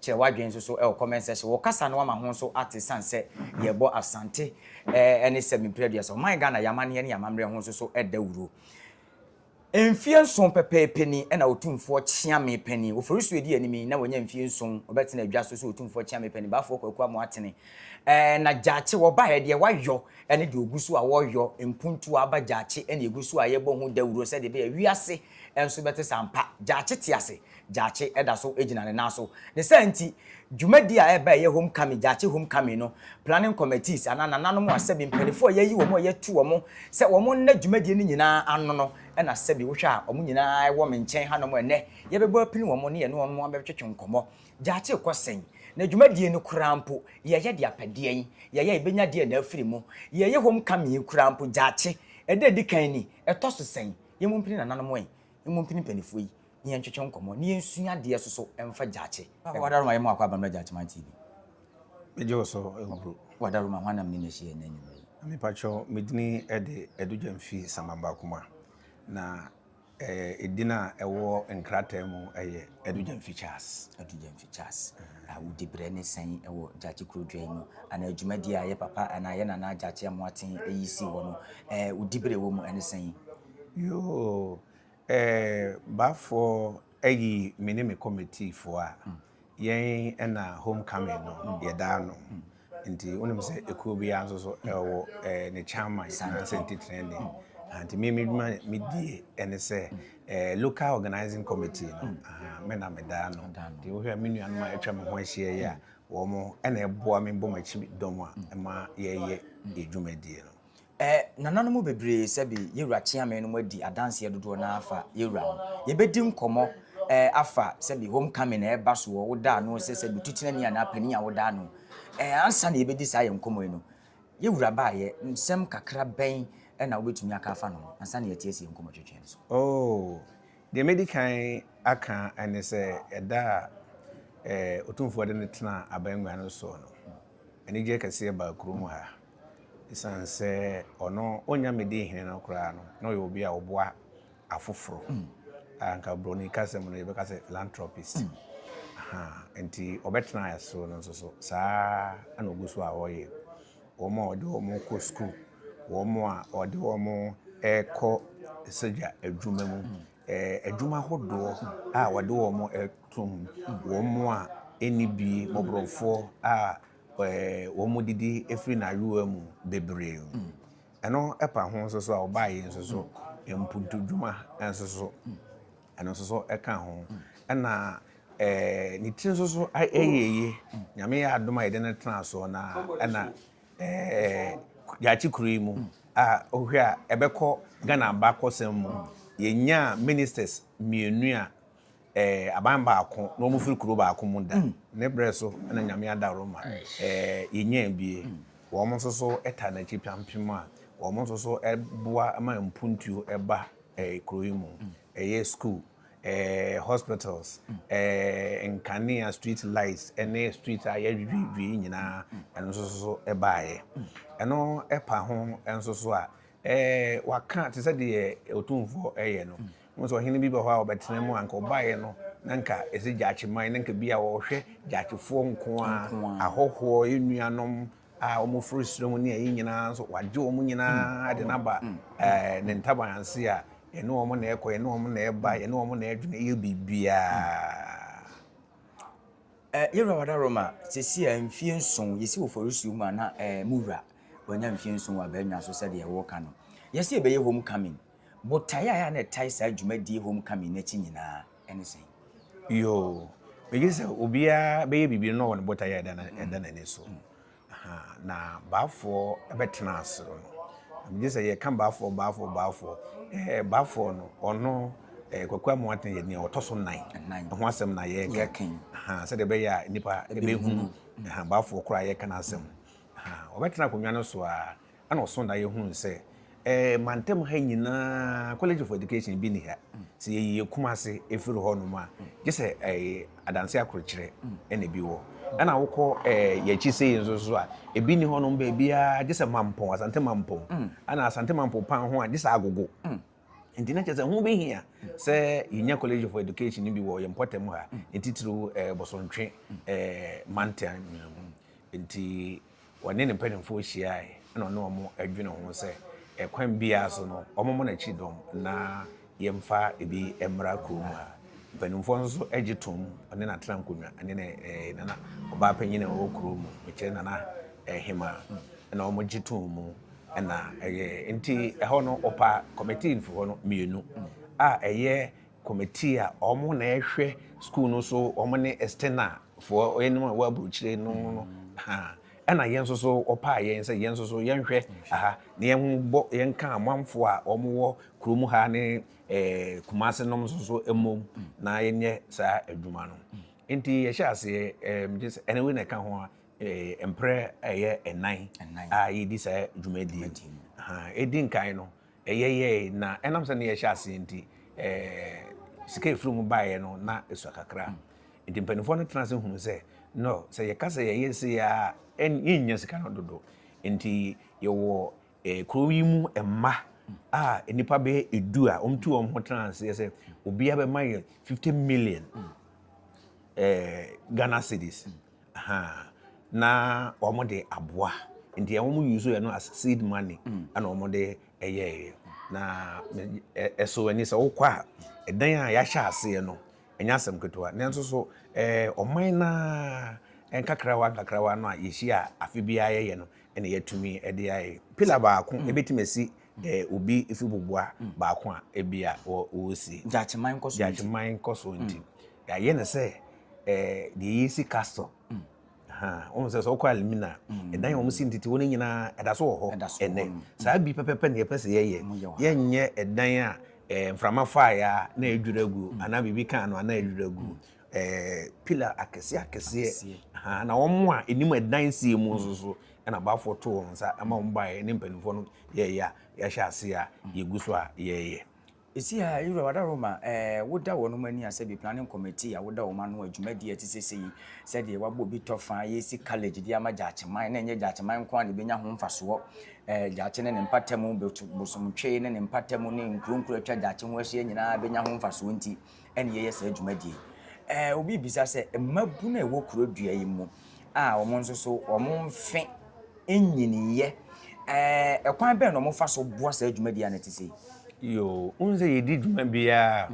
Kyerɛ w'adwene nso so wɔ comment section. Wɔ kasa no ama ho nso ate esiane sɛ yɛrebɔ Asante ne sɛ mempere aduasa. Ɔman Ghana, yɛn amanneɛ ne yɛn amammerɛ ho nso so dawuro. Mfeɛ nson pɛpɛɛpɛ ni na Otumfoɔ Kyeame panin, Ofori so edi anim yi na wanya mfeɛ nson ɔbɛtena adwa so sɛ Otumfoɔ Kyeame panin, Baafoɔ Kwaku Amoah Atene. Ɛɛ na Gyaakye wɔbaeɛ deɛ wayɔ ne deɛ ɔgu so a wɔreyɔ, mpuntuo aba Gyaakye na ɛgu so a yɛrebɔ ho dawuro sɛdeɛ ɛbɛyɛ a wiase nso bɛte sɛ ampa Gyaakye te ase. Gyakye da so gyina ne nan so. Ne saa nti, dwumadi a ɛreba a ɛyɛ Homecoming, Gyakye Homecoming no, planning committees anaa nananom a sɛbi mpanyinfoɔ a yɛayi wɔn a yɛatu wɔn sɛ wɔn nna dwumadie no nyinaa ano no na sɛbi wohwɛ a wɔn nyinaa wɔ me nkyɛn hanom a ɛnnɛ yɛbɛbɔ apini wɔn ne yɛne wɔn abɛtwetwe nkɔmmɔ. Gyakye kɔ sɛn? Na dwumadie no koraa mpo, yɛyɛ de apɛ deɛn? Yɛyɛ a yɛbɛnya deɛn na afiri mu? Yɛyɛ Homecoming yi koraa mpo, Gyakye, ɛda a ɛdi kan ni, ɛtɔ so sɛn? Yɛmmɔ mpini nananom ɛ, yɛmmɔ mpini mpanimfoɔ yi. na yɛntwetwe nkɔmmɔ na yɛnsua adeɛ nso so mfa Gyakye. Wadaroma yɛ mo akɔ Abammerɛ Gyakyeman TV. Megye wo so nkuro. Wadaroma, hwan na me ne no ahyia ɛnnɛ anwummerɛ yi? Mepakyɛw, me dini de Adugya Mfie Samamba Kuma, na edin a ɛwɔ nkrataa mu yɛ Adugya Mfie Charles. Adugya Mfie Charles, wo dibrɛ ne sɛn wɔ Gyakye kurodua yi mu? Anaa dwumadie a yɛ papa anaa yɛ nana Gyakye Amoaten yi sii hɔ no, wo dibrɛ wɔ mu ne sɛn? Yoo, Ɛɛ baafoɔ ayi me ne me kɔmitiifoɔ a, yɛn ɛna home coming no yɛdaa no. Nti wonim sɛ ekuo biara nso so ɛwɔ ɛɛ ne chairman anaasɛ ntitenani. Aha nti me m'adwuma a medie ɛne sɛ ɛɛ local organising committee no aha me na medaa no. Nti wohwɛ a me nuanom a atwa me ho ahyia yi a wɔn ɛna ɛboa me bɔ m'akyi dɔm a ɛma yɛyɛ yɛn dwumadie no. Ɛ, nananom mu bebree, sɛbe Yewura Kyeame nom adi adanseɛ dodoɔ no ara afa Yewura ho. Yɛbɛdi nkɔmmɔ, ɛ, afa sɛbe Home Coming a ɛreba soɔ, wo da ano sɛ sɛbe Tutenani anaa Panin a wo da ano. Ɛ, ansa na yɛbɛdi saa yɛn nkɔmmɔ yi no, Yewura baeɛ, nsɛm kakra bɛn na wobɛtumi aka afa ne ho, ansa na yɛatiasi yɛn nkɔmmɔ twetwee no so? Oo, deɛ mɛdi kan aka ne sɛ, ɛda a, ɛ, Otumfoɔ de no tenaa abangua no soɔ no, anigyeɛ kɛseɛ baa kurom ha. Esiane sɛ ɔno onnya Mede hene no koraa no, na ɔyɛ obi a ɔboa afoforo. A Anka Buroni kasam no, yɛbɛka sɛ philanthropist. Aha, enti ɔbɛtenaa ɛso no nso so, saa ara na ogu so a ɔreyɛ. Wɔn a ɔde wɔn kɔ sukuu, wɔn a ɔde wɔn kɔ sogya adwuma mu, eh, adwuma ahodoɔ a wɔde wɔn to mu, wɔn a ɛnni bi, mmɔborɔfoɔ a wɔn didi firi n'ayowa mu bebree. Ɛno pa ho nso so a, ɔbaa yi nso so mpuntudwuma nso so, ɛno nso so ka ho. Ɛna ɛɛ ne ti nso so yɛ yie. Nyame yɛ adom a yɛde no tena so na ɛna ɛɛ yɛakye kuro yi mu a wohwɛ a ɛbɛkɔ Ghana abakɔsɛm mu. Yɛnyaa ministers mmienu a. eh, aban baako na wɔn firi kuro baako mu da ne berɛ so na nyame ada roma eh, yɛnyaa bie wɔn nso so ta n'akyi piampem a wɔn nso so boa ma mpuntuo ba eh, kuro yi mu ɛyɛ school eh, hospitals eh, nkanea street lights ne street a yɛdwidwidwi nyinaa ɛno nso so baeɛ ɛno ɛpa ho nso so a eh, waka te sɛ deɛ ɔtumfoɔ ɛyɛ no Wohu sɛ ɔhene bi bɛ hɔ a ɔbɛtena mu a anka ɔbaeɛ no na anka ɛsɛ gyaakye man na anka bi a ɔhwɛ gyaakyefoɔ nko a ahɔhoɔ nnuanom a wɔn firi soro mu ne ayi nyinaa nso wagye wɔn nyinaa de n'aba ɛɛ ne ntaban ase a ɛne wɔn na ɛkɔ ɛne wɔn na ɛba ɛne wɔn na ɛdwene yɛ biribiara. Eh, yɛwura wada roma sɛsi a mfie nson yɛsi wɔ fɔresuo mu a na eh, mu wura wanya mfie nson wɔ abɛnwa so sɛdeɛ wɔka no yɛsi ɛbɛyɛ homecoming Botae a ɛyɛ a na ɛtae saa dwumadie homecoming no akyi nyinaa ne sɛn? Yoo, megye di sɛ obiara bɛyɛ biribi no na ɔwɔ ne botae a ɛda ɛda n'ani so. Aha, na baafoɔ bɛtena ase no, megye sɛ yɛka baafoɔ baafoɔ baafoɔ ɛɛ baafoɔ no ɔno ɛɛ Kwaku Amoateng yɛ nea ɔtɔ so nan ɛho asɛm na yɛreka aha sɛdeɛ ɛbɛyɛ a nnipa ɛbɛhunu aha baafoɔ koraa yɛreka n'asɛm aha ɔbɛtena akonnwa no so a Ɛna ɔsõ daeɛ hunuu sɛ, ɛɛ mantam ha nyinaa College of Education bi nni ha. Sɛ yɛyie Kumase firi hɔ nom a, gye sɛ ɛɛ adanse akorokyerɛ ɛna ebi wɔ. Ɛna wokɔ ɛɛ yɛakyi sei nso so a, ebi nni hɔ nom baabiara gye sɛ Mampong, Asante Mampong. Ɛna Asante Mampong paa ho a, gye sɛ Agogo. Nti na kyerɛ sɛ ho behia sɛ yenya College of Education no bi wɔ yɛn mpɔtam ha, ne titiriw eh, Bosontwe eh, mantam no mu. Nti wɔne ne mpanyimfoɔ hyiae na ɔne wɔn adwene ho sɛ ɛkwan eh, biara so no wɔmmɔ n'akyi dɔm na yɛmfa ebi mmra kurom ha. Mpanyimfoɔ nso gye tom ɔne n'atena nkonnwa ne ne eh, nana ɔbaa panyin a ɔwɔ kurom mu, mekyerɛ nana eh, hema, na wɔgye tom mu. na ɛyɛɛ. Enti ɛhɔ no, wɔpaa kɔmitii mfefoɔ no mmienu a ɛyɛ kɔmitii a wɔn na ɛhwɛ sukuu no so, wɔn ne external foɔ, wɔn a ɛwɔ aburokyire no no. Ɛna yɛn nso so wɔpaa yɛn sɛ yɛn nso so yɛnhwɛ aha na yɛbɔ yɛnka amanfoɔ a wɔwɔ kurom ha ne eh, Kumase nom nso so mmom na yɛnyɛ saa adwuma no. Enti yɛhyɛ aseɛ, eh, ɛne wei na ɛka ho a Mprɛ a ɛyɛ nnan a yɛredi saa dwumadie no, ɛdi nkan no, ɛyɛ yɛe na ɛnam sɛ na yɛhyɛ aseɛ nti, sika ɛfiri mu baeɛ no na ɛsua kakra. Nti mpanimfoɔ no tena ase hunu sɛ, no, sɛ yɛka sɛ yɛyɛ sei a, yɛnnya sika no dodo. Nti yɛwɔ kuro yi mu mma a nnipa bɛyɛ edu a wɔtu wɔn ho tena aseɛ sɛ obiara bɛma yɛn fifty million Ghana cedis. ahaa na wɔn de aboa nti wɔn use yɛ no as seed money ɛna wɔn de ɛyɛɛyɛ na ɛso ani sɛ wokɔ a ɛdan a yɛahyɛ aseɛ no ɛnyɛ asɛm ketewa nanso so ɛɛ ɔman na nkakrawa nkakrawa no a yɛhyia afe biara yɛyɛ no ɛna yɛatumi ɛde ayɛ pila baako ɛbɛtumi asi Dɛ obi fi boboa baako a ebia wosi. Gyakyeman nkɔsoɔ nti. Gyakyeman nkɔsoɔ nti. Yɛayɛ no sɛ deɛ yɛsi castle. Wohu sɛ sɛ wokɔ Alimina a, ɛdan a wɔsi ntete hɔ no nyinaa ɛda so wɔ hɔ ɛnɛ. Saa bi pɛpɛpɛ na yɛpɛ sɛ yɛyɛ. Yɛnyɛ ɛdan a mframa faeɛ a na adwiri agu anaa biribi kaa no a na adwiri agu. ɛɛ pillar akɛseɛ akɛseɛ na wɔn a anim ɛdansie mu nso so ɛna abaafoɔ to wɔn nsa ɛma wɔn baeɛ ne mpanimfoɔ no yɛɛyɛ a yɛahyɛ ase a yɛgu so a yɛɛyɛ. Ɛsi ha Yowura Wadaroma ɛɛ woda wɔn ani asɛ bi planning committee a woda wɔn ano a dwumadie a ɛte sɛ sɛ yi sɛdeɛ wabɔ bi tɔ fa yɛsi college de ama Gyakyeman na ɛnyɛ Gyakyeman nko ara na ɛbɛnya ho mfasoɔ ɛɛ Gyakye ne ne mpatamu Bosomtwe ne ne mpatamu ne nkuro nkuro atwa Gyakye ho ahyia nyinaa bɛnya ho mfasoɔ nti na yɛyɛ saa dwumadie yi. Ɛɛ obi bisa sɛ mmabunu a ɛwɔ kuro dua yi mu a wɔn nso so wɔn mfe nyiniyɛ ɛɛ ɛkwan bɛn na wɔn fa so boa saa dwumadie a na ɛte sɛ yi. Yoo, wohu sɛ yɛdi dwuma biara a,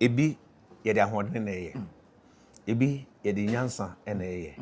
ebi yɛde ahoɔden na ɛyɛ, ebi yɛde nyansa na ɛyɛ,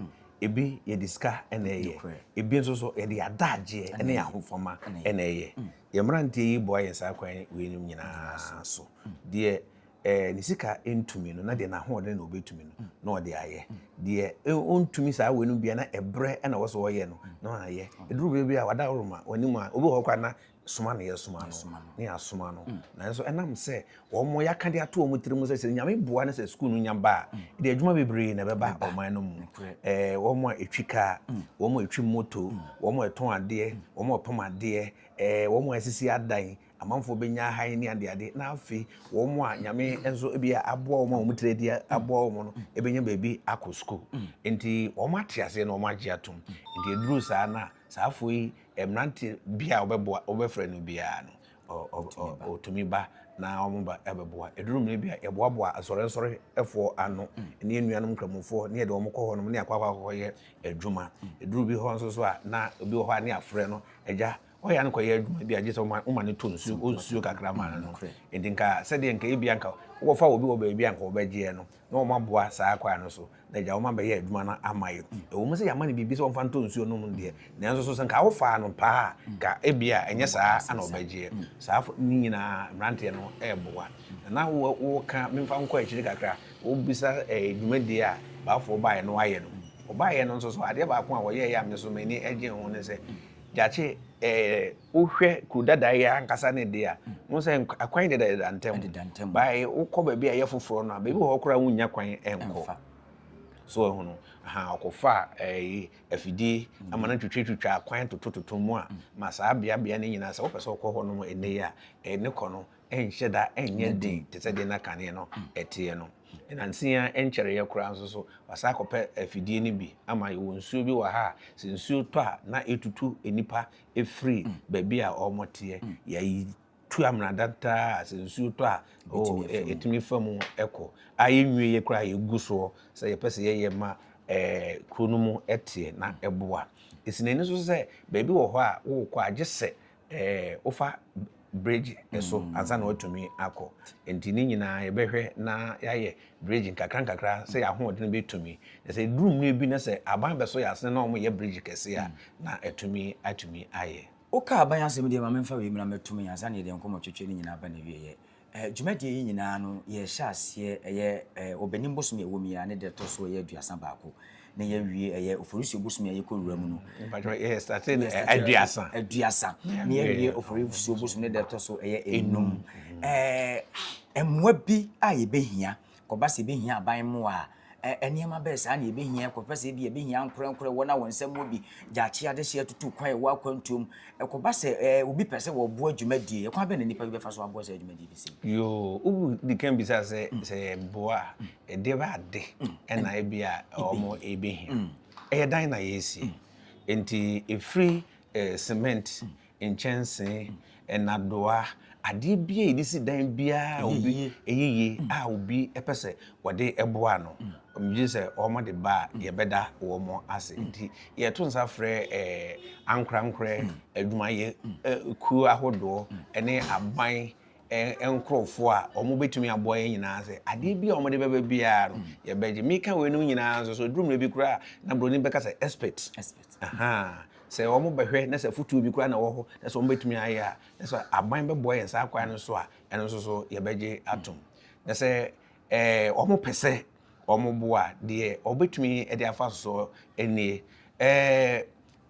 ebi yɛde sika na ɛyɛ, ebi nso so yɛde adagyeɛ ne ahofama na ɛyɛ. Yɛn mmeranteɛ yi boa yɛn saa kwan weinom nyinaa so. Deɛ eh, ne sika ntumi no, na deɛ n'ahoɔden na ɔbɛtumi no, na ɔde ayɛ. Deɛ eh, ɔntumi saa weinom bia na ɛberɛ na wɔ sɛ ɔyɛ no, na ɔayɛ. Ɛduru berɛ bi a wada woroma, wɔnim a, obi wɔ hɔ koraa na soma na yɛsoma no, na yɛasoma no. Nanso ɛnam sɛ wɔn a yɛaka de ato wɔn tiri mu sɛ sɛ nyame boa no sɛ sukuu no nya ba a ɛde adwuma bebree na ɛbɛba ɔman no mu ɛɛ wɔn a ɛtwi kaa mm. wɔn a ɛtwi moto mm. wɔn a ɛtɔn adeɛ mm. wɔn a ɛpam adeɛ ɛɛ wɔn a ɛsisi adan amanfoɔ bɛnya ahan ne adeade na afei wɔn a nyame nso ebi aboa wɔn a wɔn tiri adi aboa wɔn no ɛbɛnya baabi akɔ sukuu nti wɔn ate aseɛ na wɔn agye atom nti eduru saa na saa afɔ yi mmeranteɛ bi a wɔbɛboa wɔbɛfrɛ no biara no. Wɔtumi ba na wɔba bɛboa. Ɛduru mmerɛ bi a, yɛboaboa asɔrensɔrefoɔ ano ne anuanom nkramofoɔ ne yɛde wɔn kɔ hɔnom ne akɔ akɔyɛ adwuma. Ɛduru bi hɔ nso so a, na obi wɔ hɔ a ne yɛafrɛ no, agya, ɔyɛ a no kɔyɛ adwuma bi a gye sɛ woma no tɔ nsuo, ɔnsuo kakra ma no. Nti nka sɛdeɛ nka ebia nka wokɔfa obi wɔ baabi a nka wɔbɛgyeɛ no, na wɔaboa saa kwae no so na agya wɔn abɛyɛ adwuma no ama yɛn. Ɛwom sɛ yɛama no biribi sɛ ɔmfa ntɔ nsuo nnom deɛ, nanso so sɛ nka wofaa no paa a, nka ebia ɛnyɛ saa ara na ɔbɛgyeɛ. Saa fo no nyinaa mmeranteɛ no reboa. Na na wo, woka, memfa nkɔ akyiri kakra, wobisa eh, dwumadie a Baafoɔ baeɛ na wɔayɛ no. Wɔbaeɛ no nso so, adeɛ baako a wɔyɛeɛ a me nso m'ani gyee ho ne sɛ, Gyakye eh, Wohwɛ kuro dada yi ankasa ne deɛ a, wohu sɛ akwan dedadeda ntam. Bae wokɔ baabi a ɛyɛ foforɔ no a, baabi wɔ hɔ koraa wonnya kwan nkɔ. So ɛhono ha ɔkɔfa ɛyi afidie ama no twitwatwitwa akwan totototo mu a ma saa beabea no nyinaa sɛ wopɛ sɛ wokɔ hɔ nom ɛnɛ yi a ɛne kɔ no ɛnhyɛ da ɛnyɛ den te sɛ deɛ na kaneɛ no ɛteɛ no. Nansia ɛnkyɛreeɛ koraa nso so wasa akɔpɛ afidie no bi ama yɛwɔ nsuo bi wɔ ha a sɛ nsuo tɔ a na ɛtutu nnipa firi baabi a wɔteɛ yɛyi tu amena dantaa sɛ nsuo tɔ a oh, ɛtumi fa mu kɔ a yɛnwie yɛ koraa yɛgu soɔ sɛ yɛpɛ sɛ yɛyɛ ma eh, kuro no mu teɛ na ɛboa ɛsi n'ani so sɛ baabi wɔ hɔ a wokɔ agye sɛ eh, wofa bridge so mm. ansa na watumi akɔ nti ne nyinaa yɛbɛhwɛ na yɛayɛ bridge nkakra nkakra sɛ yɛahoɔden bɛtumi na sɛ ɛduru mmerɛ bi na sɛ aban bɛso yɛ asene na wɔyɛ bridge kɛse a mm. na atumi atumi ayɛ woka aban asɛm deɛ ma memfa wei mmra mɛtom yɛ ansa na yɛde nkɔmmɔtwetwe no nyinaa ba na wieɛ eh, dwumadie yi nyinaa no yɛhyɛ aseɛ ɛyɛ eh, ɔbɛnim bosom yɛwɔ mu yi a ne deɛ ɛtɔ so ɛyɛ aduasa baako na yɛawie ɛyɛ oforisuo bosome a yɛkɔ wura mu no aduasa aduasa na yɛawie oforisuo bosome ne deɛ ɛtɔ so ɛyɛ enum mmoa bi a yɛbɛhia kɔba sɛ yɛbɛhia aban mmoa a nneɛma bɛɛ saa na yɛbɛhia kɔpɛ sɛ bi yɛbɛhia nkorɛnkorɛ wɔn a wɔn nsɛm mu bi gyaakye adehyeɛ tutu kwan ɛwɔ akwantuom ɛkɔba sɛ obi pɛ sɛ wɔboa dwumadie ɛkwan bɛ na nnipa bi bɛfa so aboa sɛ dwumadie bi sɛ yoo wobu di kan bisa sɛ sɛ yɛboa Ɛdeɛbɛ ade na ebi a wɔn rebɛhia. Ɛyɛ dan na yɛresi. Nti ɛfiri cement, nkyɛnsee, nnadoa, adeɛ biara a yɛde si dan biara a obi ɛyɛ yie a obi pɛ sɛ wɔde boa ano. Megye di sɛ wɔde ba a yɛbɛda wɔn ase. Nti yɛto nsa frɛ ankorankorɛ adwumayɛ kuo ahodoɔ ne aban nkurɔfoɔ a wɔbɛtumi aboa yɛn nyinaa sɛ adeɛ bi a wɔde bɛba biara no mm. yɛbɛgye meka weinom nyinaa nso so duru mmerɛ bi koraa na buroni bɛka sɛ expert sɛ wɔn bɛhwɛ na sɛ futuo bi koraa na wɔ hɔ na sɛ wɔn bɛtumi ayɛ a na sɛ aban bɛboa yɛn saa kwan no so a ɛno nso so yɛbɛgye atom na sɛ ɛɛ wɔn pɛ sɛ wɔn boa deɛ wɔbɛtumi de afa soɔ nie ɛɛ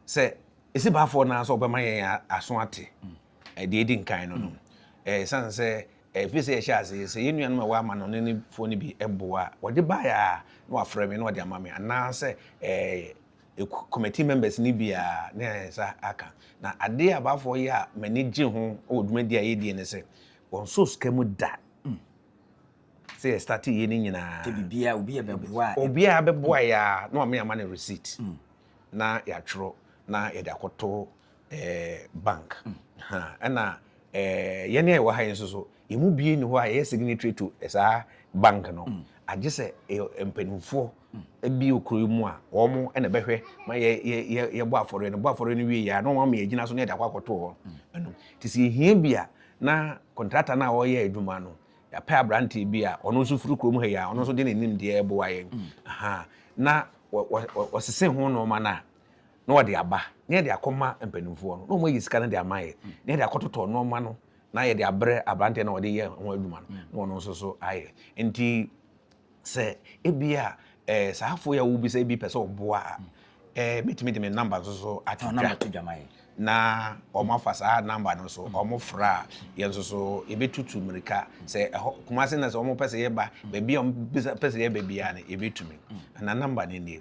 sɛ esi baafoɔ naa sɛ wɔbɛma yɛn aso ate. Mm. Deɛ edi nkan no no, ɛsiane sɛ ɛfiri sɛ yɛhyɛ ase sɛ yɛn nuanom a ɛwɔ amanɔnefoɔ no bi boa a, wɔde baeɛ a na wɔafrɛ me na wɔde ama me anaasɛ committee members no bi a na yɛn nsa aka. Na adeɛ a abaafoɔ yɛ a m'ani gye ho wɔ dwumadie a yɛdie ne sɛ wɔnsɔɔ sika mu da sɛ yɛ start yɛ no nyinaa. Sɛ biribiara obi a bɛboa a. Obiara bɛboa yɛ a na wɔn ama no receipt na yɛatwerɛ na yɛde akɔto ɛɛ bank ha ɛna ɛɛ yɛn a yɛwɔ ha yi nso so yɛn mu bie ni hɔ a yɛyɛ signatory to saa bank no mm. agye sɛ ɛyɛ mpanimfoɔ mm. bi okuro yi mu a wɔn ɛna bɛhwɛ ma yɛ yɛ yɛ yɛbɔ afɔre no bɔ afɔre no wie yɛ a na wɔn ama yɛ gyina so na yɛde akɔ akɔto hɔ mm. ɛnum te sɛ ehia bi a na kɔntrata no a wɔyɛ adwuma no yɛapɛ aberanteɛ bi a ɔno nso firi kurom ha yi a ɔno nso de n'anim deɛ ɛboa yɛn na wɔsese ho nneɛma no a na wɔde aba na yɛde akɔma mpanimfoɔ no na wɔn ayɛ sika no de ama yɛ na yɛde akɔtotɔ nneɛma no na yɛde abrɛ aberanteɛ na wɔde yɛ ho adwuma no na wɔn nso so ayɛ nti sɛ ebi a ɛɛ saa afo yɛ wo bi sɛ ebi pɛ sɛ ɔboa a ɛɛ metumi de me namba nso so ato dwa na wɔn afa saa namba no so wɔn fra a yɛn nso so yɛbɛtutu mmirika sɛ ɛhɔ kumase na sɛ wɔn pɛ sɛ yɛba baabi a wɔn pɛ sɛ yɛba biara no yɛbɛtumi na namba no nie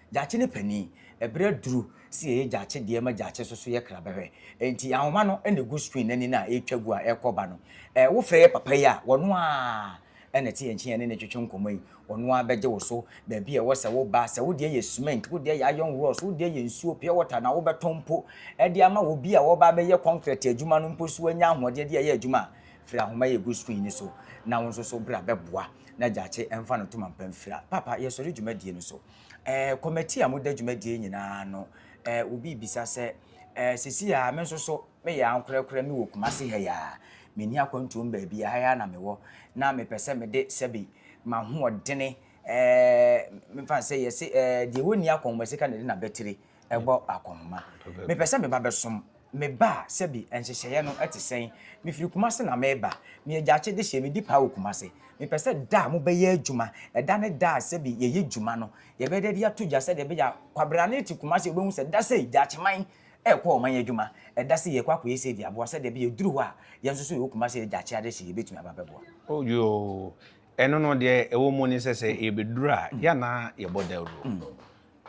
Gyakye ne panin. Ɛberɛ aduru sɛ yɛyɛ Gyakye deɛ ma Gyakye nso so yɛ kra bɛhwɛ. Enti ahoma no na ɛgu screen no ani no a ɛretwa gu a ɛrekɔ ba no. Ɛɛ wo frɛ yɛ papa yi a, ɔno ara na ɛte yɛn nkyen yɛne no retwetwe nkɔmmɔ yi. Ɔno ara bɛgye wo so baabi a ɛwɔ sɛ wo ba, sɛ wo deɛ yɛ cement, wo deɛ yɛ iron rods, wo deɛ yɛ nsuo, pure water na wobɛtɔn mpo de ama obi a ɔreba abɛyɛ concrete adwuma no mpo so anya ahoɔden de ayɛ adwuma a, firi ahoma yi a ɛgu screen no so na wo nso so bra bɛboa na Gyakye mfa no ntoma mpa mfira. Papa, yɛsɔre dwumadie no so. Ɛɛ, kɔmɛti a moda dwumadie nyinaa ano ɛɛ, obi rebisa sɛ, ɛɛ, sɛsi aa me nso so me yɛ ankorɛkorɛ me wɔ Kumasi ha yi aa, me nni akwantuo me baabi aa, ha yi aa na me wɔ, na me pɛ sɛ me de sɛbi m'ahoɔdene ɛɛ, me nfa no sɛ yɛse ɛɛ, deɛ ɔnni akɔnhoma sika na ɛde n'abatire. ɛbɔ akɔnhoma. Mepɛ sɛ meba bɛsom. Meba a, sɛbi, nhyehyɛeɛ no te sɛn? Mefiri Kumasi na mereba. Meyɛ Gyakye dehyeɛ, medi paa wɔ Kumasi. Mepɛ sɛ da a mobɛyɛ adwuma, ɛda ne da a sɛbi yɛyɛ dwuma no, yɛbɛyɛ dɛ de ato dwa sɛdeɛ ɛbɛyɛ a kwabrane te Kumasi a ɔbɛhu sɛ da sei, Gyakyeman rekɔ ɔman adwuma, ɛda sei yɛrekɔ akɔyɛ sei de aboa sɛdeɛ ɛbɛyɛ ɛduru hɔ a, yɛn nso so yɛwɔ Kumasi yɛ Gyakye adehyeɛ yɛbɛtumi aba abɛboa. Oh yoo, ɛno no deɛ ɛwɔ mu ne sɛ sɛ yɛbɛduru a, yɛn na yɛbɔ dawuro.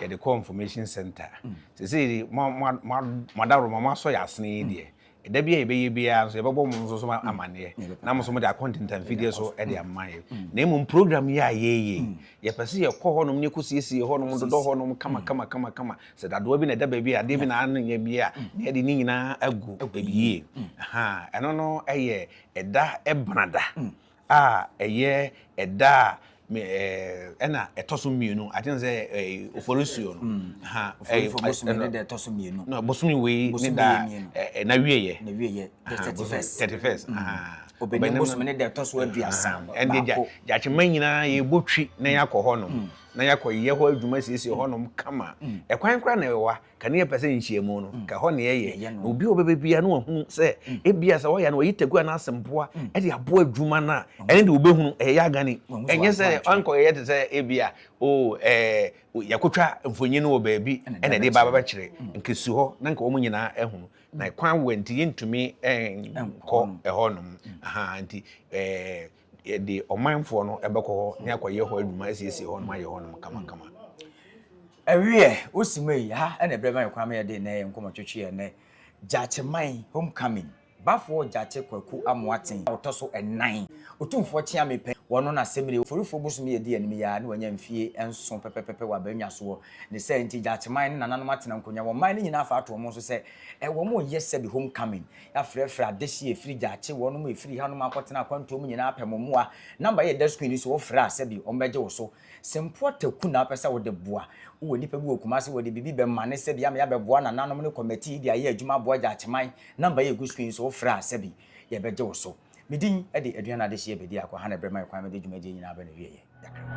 yɛde kɔ information center sese de mo mo mo mo adaworo mo asɔ yɛ asene yi deɛ ɛda bi a yɛbɛyɛ biara nso yɛbɛbɔ mo nso so amaneɛ na mo nso mo de akɔntenta mfidie so de ama yɛ na mmom program yi a yɛyɛ yɛpɛ sɛ yɛkɔ hɔnom ne kɔsiesie hɔnom dodɔ hɔnom kama kama kama kama sɛ dadoa bi na ɛda baabi a adeɛ bi na anyɛ bi a na yɛde ne nyinaa agu baabi yie ɛno no ɛyɛ ɛda ɛbana da a ɛyɛ ɛda a me ɛɛ ɛna ɛtɔ so mmienu i think sɛ ɛɛ oforisuo no mm. ha ɛɛ bosome ne da ɛtɔ so mmienu na bosome wei ne da ɛɛ na wie yɛ na wie yɛ thirty first thirty first mm. obɛnum bosome ne da ɛtɔ so aduasa ɛnde gya gyakyema nyinaa yɛbɔ twi na yɛakɔ hɔ nom mm. na yɛakɔ yɛ hɔ adwuma siesie hɔ nom kama ɛkwan kora na ɛwɔ hɔ ka ne yɛpɛ sɛ nhyiamu no ka hɔ ne yɛyɛ na obi a ɔbɛbɛ biara na wahunu sɛ ebia sɛ wɔyɛ no wɔyi taku anaa asɛmpoa de aboa adwuma no a ɛne de wobɛhunu ɛyɛ yɛ agane ɛnyɛ sɛ ɔnkɔyɛ te sɛ ebia o ɛɛ yɛkotwa mfonyin wɔ baabi ɛna ɛde ba bɛkyerɛ nka si hɔ na nka wɔn nyinaa ahunu na kwan wɔ nti yɛntumi nkɔ ɛhɔ nom aha nti ɛɛ Yɛde ɔmanfoɔ no bɛkɔ hɔ ne akɔyɛ hɔ adwuma asiesie hɔ nom ayɛ hɔ nom kamakama. Ɛweɛ osima yi ha ɛna ɛbrɛ ma ɛkwan ma yɛde nnɛ yɛ nkɔmɔ twetwe yɛ nnɛ Gyakye man homecoming bafoɔ Gyakye Kwaku Amoaten a ɔtɔ so ɛnan otumfoɔ kyeame pɛ wɔno na semine oforifoɔ bosom yi ɛdi anim yi ara ne wanya mfie nso pɛpɛpɛpɛ wɔ abannwasoɔ ne saa nti Gyakye man ne nananom atena nkonya wɔn man no nyinaa afa ato wɔn nso sɛ wɔn yɛ sɛbi homecoming Na frɛfrɛ adehye a ɛfiri gya akye wɔnom a ɛfiri hanom akɔtena akwantuo mu nyinaa pɛ mo mmoa. Namba yi yɛ da sukuuni so wofrɛ a sɛbi wɔn bɛgye wo so. Se mpo ɔtaku na wopɛ sɛ wode boa, wowɔ nipa bi wɔ Kumasi wɔde biribi bɛma ne sɛbi ama yɛabɛboa nananom ne kɔmɛtii de ayɛ adwuma aboa gya akye man. Namba yi ɛgu sukuuni so wofrɛ a sɛbi yɛbɛgye wo so. Me din de Aduane Adehye Abedi Ako ha na ɛbrɛ ma me kwan mede dwumadie nyinaa aba n'awieɛ. Yɛakrɛ mo.